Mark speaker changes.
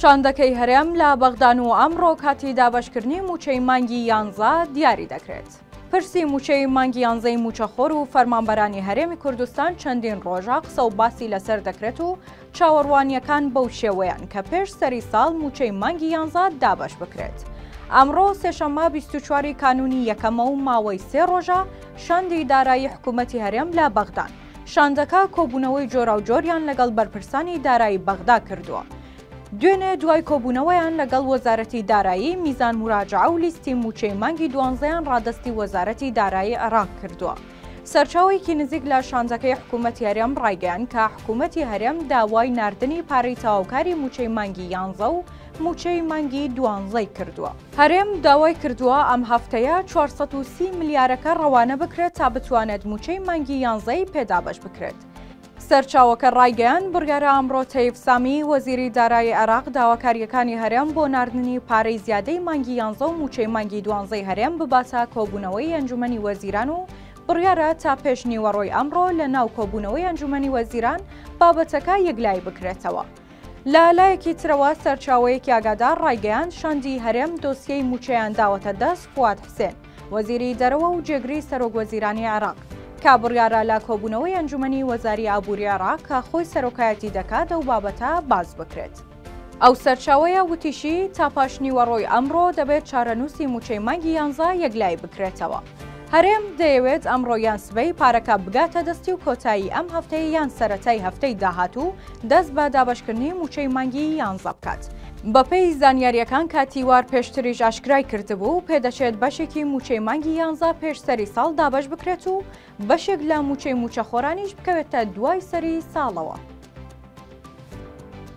Speaker 1: شاندەکەی هەرێم لە بەغدان و ئەمڕۆ کاتی دابەشکردنی مووچەی مانگی یانزە دیاری دەکرێت. پرسی مووچەی مانگی یانزەی مووچەخۆر و فەرمانبەرانی هەرێمی کوردستان چەندین ڕۆژە قسە و باسی لەسەر دەکرێت و چاوەڕوانییەکان بەو شێوەیەن کە پێش سەری ساڵ مووچەی مانگی یانزە دابەش بکرێت. ئەمڕۆ سێشەممە بیست و چواری کانوونی یەکەمە و ماوەی سێ ڕۆژە شاندی دارایی حکوومەتی هەرێم لە بەغدان. شاندەکە کۆبوونەوەی جۆراوجۆریان لەگەڵ بەرپرسانی دارایی بەغدا کردووە. دوێنێ دوای کۆبوونەوەیان لەگەڵ وەزارەتی دارایی، میزان موراجەعە و لیستی مووچەی مانگی دوانزەیان ڕادەستی وەزارەتی دارایی عێراق کردووە. سەرچاوەیەکی نزیک لە شاندەکەی حکوومەتی هەرێم ڕایگەیاند کە حکوومەتی هەرێم داوای ناردنی پارەی تەواوکاری مووچەی مانگی یانزە و مووچەی مانگی دوانزەی کردووە. هەرێم داوای کردووە ئەم هەفتەیە چوار سەد و سی ملیارەکە ڕەوانە بکرێت تا بتوانێت مووچەی مانگی یانزەی پێ دابەش بکرێت. سەرچاوەکە ڕایگەیاند، بڕیارە ئەمڕۆ تەیف سامی، وەزیری دارایی عێراق داواکارییەکانی هەرێم بۆ ناردنی پارەی زیادەی مانگی یانزە و مووچەی مانگی دوانزەی هەرێم بباتە کۆبوونەوەی ئەنجوومەنی وەزیران و بڕیارە تا پێش نیوەڕۆی ئەمڕۆ لەناو کۆبوونەوەی ئەنجوومەنی وەزیران بابەتەکە یەکلایی بکرێتەوە. لە لایەکی ترەوە سەرچاوەیەکی ئاگادار ڕایگەیان شاندی هەرێم دۆسیەی موچەیان داوەتە دەست فواد حسێن وەزیری دەرەوە و جێگری سەرۆک وەزیرانی عێراق کا بڕیارە لە کۆبوونەوەی ئەنجومنی وەزاری ئابووری عێراق کە خۆی سەرۆکایەتی دەکات ئەو بابەتە باز بکرێت. ئەو سەرچاوەیە وتیشی، تا پاشنیوەڕۆی ئەمڕۆ دەبێت چارەنووسی مووچەی مانگی یانزە یەکلایی بکرێتەوە. هەرێم دەیەوێت ئەمڕۆ یان سبەی پارەکە بگاتە دەستی و کۆتایی ئەم هەفتەی یان سەرەتای هەفتەی داهاتوو دەست بە دابەشکردنی مووچەی مانگی یانزە بکات. بەپێی زانیارییەکان کاتیوار پێشتریش ئاشکرای کردبوو، پێدەچێت بەشێکی مووچەی مانگی یانزە پێش سەری ساڵ دابەش بکرێت و بەشێک لە مووچەی مووچەخۆرانیش بکەوێتە دوای سەری ساڵەوە.